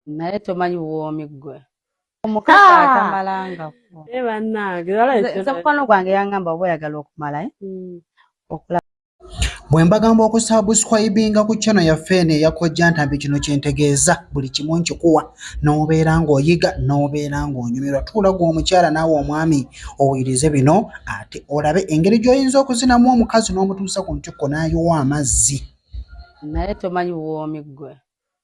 naye tomanyi buwoomi ggwe omukazi ah! atamalangako eh, bannange nze mukwano gwange yangamba oba oyagala okumala eh? hmm. okulaba bwe mbagamba okusabuskwayibinga ku kyano yaffe eno eyakojja ntambi kino kyentegeeza buli kimu nkikuwa n'obeera ng'oyiga n'obeera ng'onyumirwa tuulagwa omukyala naawe omwami owulirize bino ate olabe engeri gy'oyinza okuzinamu omukazi n'omutuusa ku ntikko n'ayiwa amazzi naye tomanyi buwoomi ggwe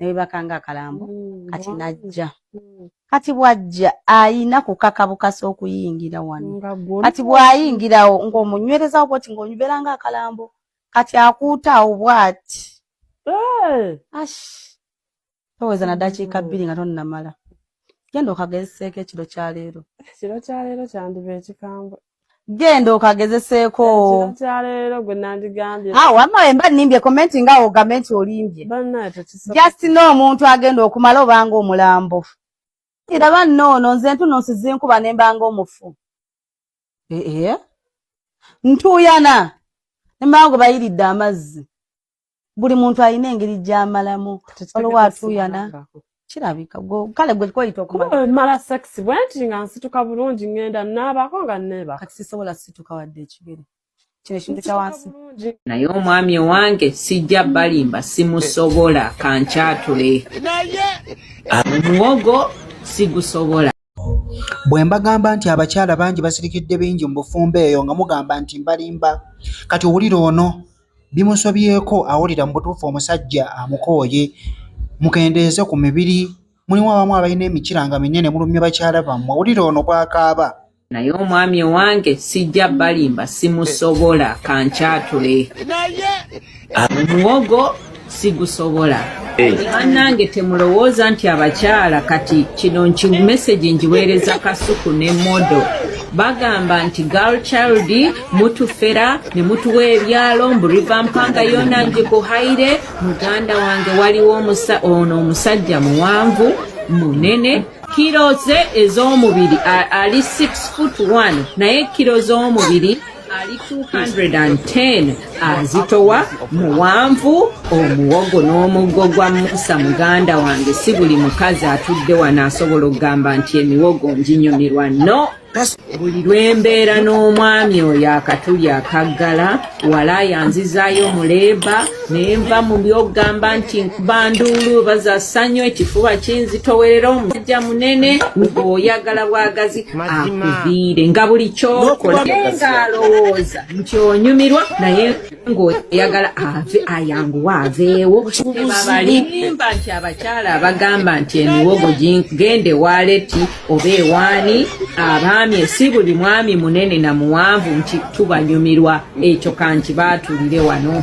nebebakanga akalambo mm, kati najja mm. kati bwajja ayina kukaka bukasa okuyingira wano kati bwayingirawo ngaomunywerezawo bwoti ngaonyuberanga akalambo kati akuutaawo bwati eh! ash toweza nadakiika bbiri nga tonnamala genda okagezeseeko ekiro kyaleero ekiro kyaleero kyandiba ekikambwe genda okagezeseeko ah, wama emba nimbye komenti nga ogambe nti olimbye just no omuntu agenda okumala obanga omulambo iraba noono nze ntuno nsizinkuba nembanga omufu ee eh, eh. ntuuyana nembango bayiridde amazzi buli muntu alina engeri gyamalamu waliwo atuyana kirabika kale gwe kweyita okumala sex bwe nti nga nsituka bulungi ngenda naabako nga neeba kati sisobola situka wadde ekigere kino ekintu kya wansi naye omwami owange sijja balimba simusobola kankyatule muwogo sigusobola Bwe mbagamba nti abakyala bangi basirikidde bingi mu bufumbo eyo nga mugamba nti mbalimba. Kati owulira ono bimusobyeko awulira mu butuufu omusajja amukooye. Mukendeeze ku mibiri. Mulimu abamu abalina emikira nga minene mulumya bakyala bammwe. Wulira ono bw'akaaba. naye omwami owange sijja balimba simusobola kankyatule muwogo sigusobola bannange temulowooza nti abakyala kati kino nki mesagi ngiweereza kasuku ne modo bagamba nti girl child mutufera ne mutuwa ebyalo mbu riva mpanga yona ngikuhaire muganda wange waliwo ono omusajja muwanvu munene kiro ze ez'omubiri ali 6 foot 1 naye kiro z'omubiri ali 210 azitowa muwanvu omuwogo n'omuggo gwa musa muganda wange si buli mukazi atudde wano asobola okugamba nti emiwogo njinyumirwa no buli lwembeera n'omwami oyo akatuli akaggala wala yanzizaayo muleeba naye nva mu byogamba nti nkuba nduulu baza ssanyu ekifuba kinzitowerera omusajja munene ng'oyagala bwagazi akuviire nga buli kyokola ng'alowooza nti onyumirwa naye ng'oyagala ave ayanguwa aveewo babalimba nti abakyala abagamba nti emiwogo gende waleti oba ewaani abaami si buli mwami munene na muwanvu nti tubanyumirwa ekyo kanti baatulire wano